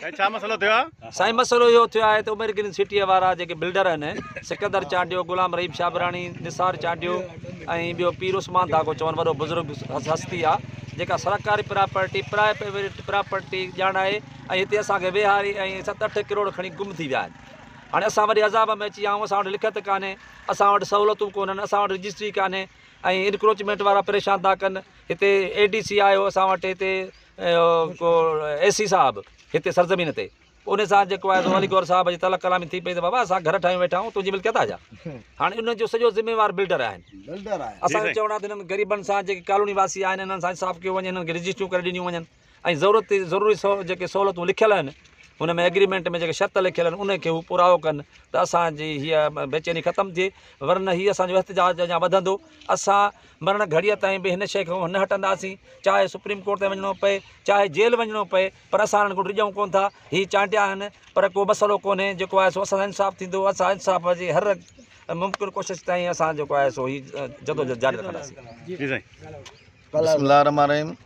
سائين ڇا مسئلو ٿيو آ؟ سائين مسئلو اهو ٿيو آهي ته عمر گرين سٽيء وارا جيڪي بلڊر آهن سڪندر چانڊيو، غلام رحيم شابراڻي، نثار چانڊيو ۽ ٻيو پير عثمان ڌاڳو چون وڏو بزرگ هستي آ جيڪا سرڪاري پراپرٽي پرائيويٽ پراپرٽي ڄاڻ آهي ۽ هتي اسان کي ويهاري ۽ ست اٺ ڪروڙ کڻي گم ٿي ويا آهن هاڻي اسان وڏي عذاب ۾ اچي ويا آهيون اسان وٽ لکت ڪانهي اسان وٽ سهولتون ڪونهن اسان وٽ رجسٽري ڪانهي ۽ انڪروچمينٽ وارا پريشان ٿا ڪن هتي اي ڊي سي آيو اسان وٽ هتي اي سي صاحب هتي سرزمين تي ان سان جيڪو آهي سو علي گور صاحب جي تلخ ڪلامي ٿي پئي ته بابا اسان گهر ٺاهيون ويٺا آهيون تنهنجي ملڪيت آ جا هاڻي ان جو سڄو ذميوار بلڊر آهن اسان جو چوڻ آهي ته انهن غريبن سان جيڪي ڪالوني واسي آهن انهن سان انصاف ڪيو وڃي انهن کي رجسٽريون ڪري ڏنيون وڃن ۽ ضرورت ضروري سو جيڪي سهولتون لکيل آهن ان ۾ ايگريمنٽ ۾ جيڪي شرط لکيل آهن ان کي هو پورائو ڪن ته اسانجي هيء بيچيني ختم ٿئي ورنه هي اسانجو احتجاج اڃا وڌندو اسان مرڻ گهڙيء تائين به هن شيء کان نه هٽنداسين، چاهي سپريم ڪورٽ تائين وڃڻو پئي، چاهي جيل وڃڻو پئي، پر اسان هنن کان ڊڄون ڪونه ٿا. هي چانڊيا آهن، پر ڪو مسئلو ڪونهي، جيڪو آهي سو اسان سان انصاف ٿيندو، اسان انصاف جي هر ممڪن ڪوشش تائين اسان جيڪو آهي سو هي جدوجهد جاري رکنداسين. بسم الله الرحمٰن الرحيم.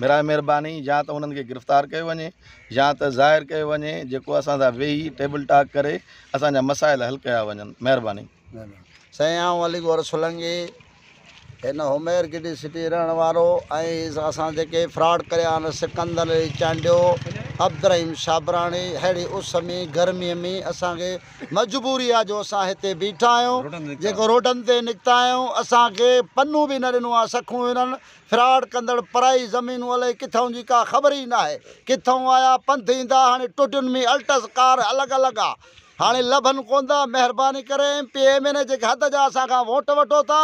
براء مھرباني يا ته انهن کي گرفتار ڪيو وڃي يا ته ظاهر ڪيو وڃي جيڪو اسان سان ويهي ٽيبل ٽاڪ ڪري اسان جا مسائل حل ڪيا وڃن مھرباني. سائين آئون علي گور سولنگي هن حمير گڊي سٽي رهڻ وارو ۽ اسان جيڪي فراڊ ڪريا آهن سڪندر علي چانڊيو عبدالرحيم شابراڻي ههڙي اس ۾ گرمي ۾ اسان کي مجبوري آهي جو اسان هتي بيٺا آهيون جيڪو روڊن تي نڪتا آهيون اسان کي پنو به نه ڏنو آهي سکون هنن فراڊ ڪندڙ پرائي زمينون الئي ڪٿئون جي ڪا خبر ئي ناهي ڪٿئون آيا پنڌ ايندا هاڻي ٽوٽين ۾ الٽس ڪار الڳ الڳ آ هاڻي لڀن ڪوندا مهرباني ڪري M P M N A جيڪي حد جا اسان کان ووٽ وٺو ٿا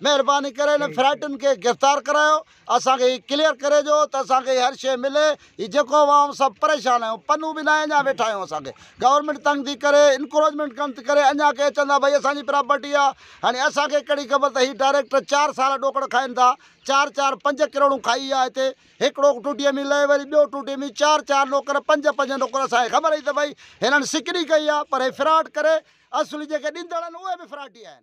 مهرباني ڪري انهن فراڊين کي گرفتار ڪرايو اسان کي هي ڪليئر ڪري ڏيو ته اسان کي هر شئي ملي هي جيڪو اوهان سڀ پريشان آهيو پنهون به ناهي اڃا ويٺا آهيون اسان کي گورنمينٽ تنگ ٿي ڪري انڪروچمينٽ ڪن ٿي ڪري اڃا ڪي اچن ٿا ڀئي اسان جي پراپرٽي آهي هاڻي اسان کي ڪهڙي خبر ته هي ڊائريڪٽر چار سال ڏوڪڙ کائن ٿا چار چار پنج ڪروڙون کائي آهي هتي هڪڙو ٽوٽي ۾ لهي وري ٻيو ٽوٽي ۾ چار چار نوڪر پنج پنج نوڪر اسان کي خبر هئي ته ڀئي هنن سڪري ڪئي آهي پر هي فراڊ ڪري اصل جيڪي ڏيندڙ آهن اهي به فراڊي آهن